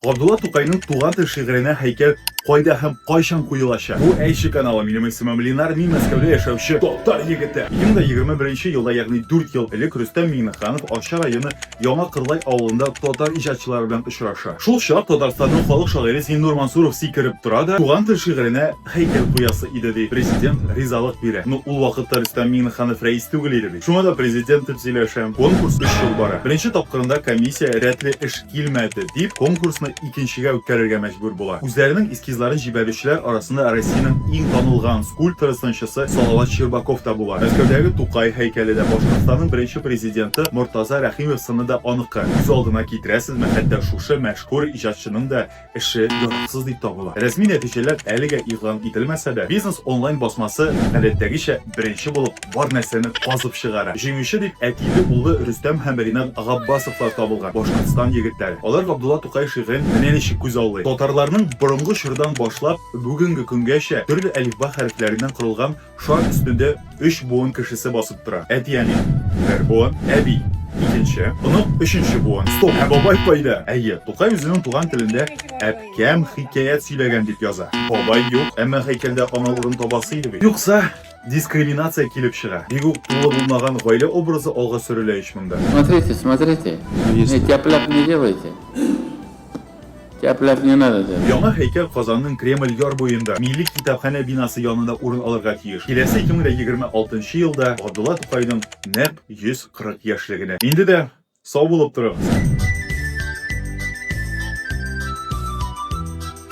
Габдулла Тукайның Туган тел шигыренә һәйкәл кайда һәм кайчан куелачак? Бу Әйше каналы, минем исемем Ленар, мин Мәскәүдә яшәүче татар егете. Минем дә егерме беренче елда, ягъни дүрт ел элек Рөстәм Миңнеханов Арча районы Яңа Кырлай авылында татар иҗатчылары белән очраша. Шул чак Татарстанның халык шагыйре Зиннур Мансуров сикереп тора да, Туган тел шигыренә, Һәйкәл куясы иде ди. Президент ризалык бирә. Ну, ул вакытта Рөстәм Миңнеханов рәис түгел иде бит. Шуңа да президент дип сөйләшәм. Конкурс өч ел бара. Беренче тапкырында комиссия рәтле эш килмәде дип, конкурсны икенчегә үткәрергә мәҗбүр була. Үзләренең эскизларын җибәрүчеләр арасында Россиянең иң танылган скульпторы-сынчысы Салават Щербаков та була. Мәскәүдәге Тукай һәйкәле дә Башкортстанның беренче президенты Мортаза Рәхимов сыны да аныкы. Күз алдына китерәсезме, хәтта шушы мәшһүр иҗатчының да эше яраксыз дип табыла. Рәсми нәтиҗәләр әлегә игълан ителмәсә дә, Бизнес Online басмасы, гадәттәгечә, беренче булып бар нәрсәне казып чыгара. Җиңүче дип әтиле-уллы Рөстәм һәм Ринат Габбасовлар табылган, Башкортстан егетләре. Алар Габдулла Тукай шигырен менә ничек күзаллый. Татарларның борынгы чордан башлап бүгенге көнгәчә төрле әлифба хәрефләреннән корылган Шар өстендә өч буын кешесе басып тора. Әти-әни, бер буын, әби, икенче, онык, өченче буын. Стоп, ә бабай кайда? Әйе, Тукай үзенең туган телендә әпкәм хикәят сөйләгән дип яза. Бабай юк, әмма һәйкәлдә аналыгын табасы иде бит. Юкса, дискриминация килеп чыга. Бик үк тулы булмаган гаилә образы алга сөрелә ич монда. Смотрите, смотрите, не тяп-ляп не делайте. Кәпләп не надо тебе. Яңа һәйкәл Казанның Кремль яр буенда, Милли китапханә бинасы янында урын алырга тиеш. Киләсе 2026 нчы елда Габдулла Тукайның нәкъ 140 яшьлегенә. Инде дә сау булып торыгыз!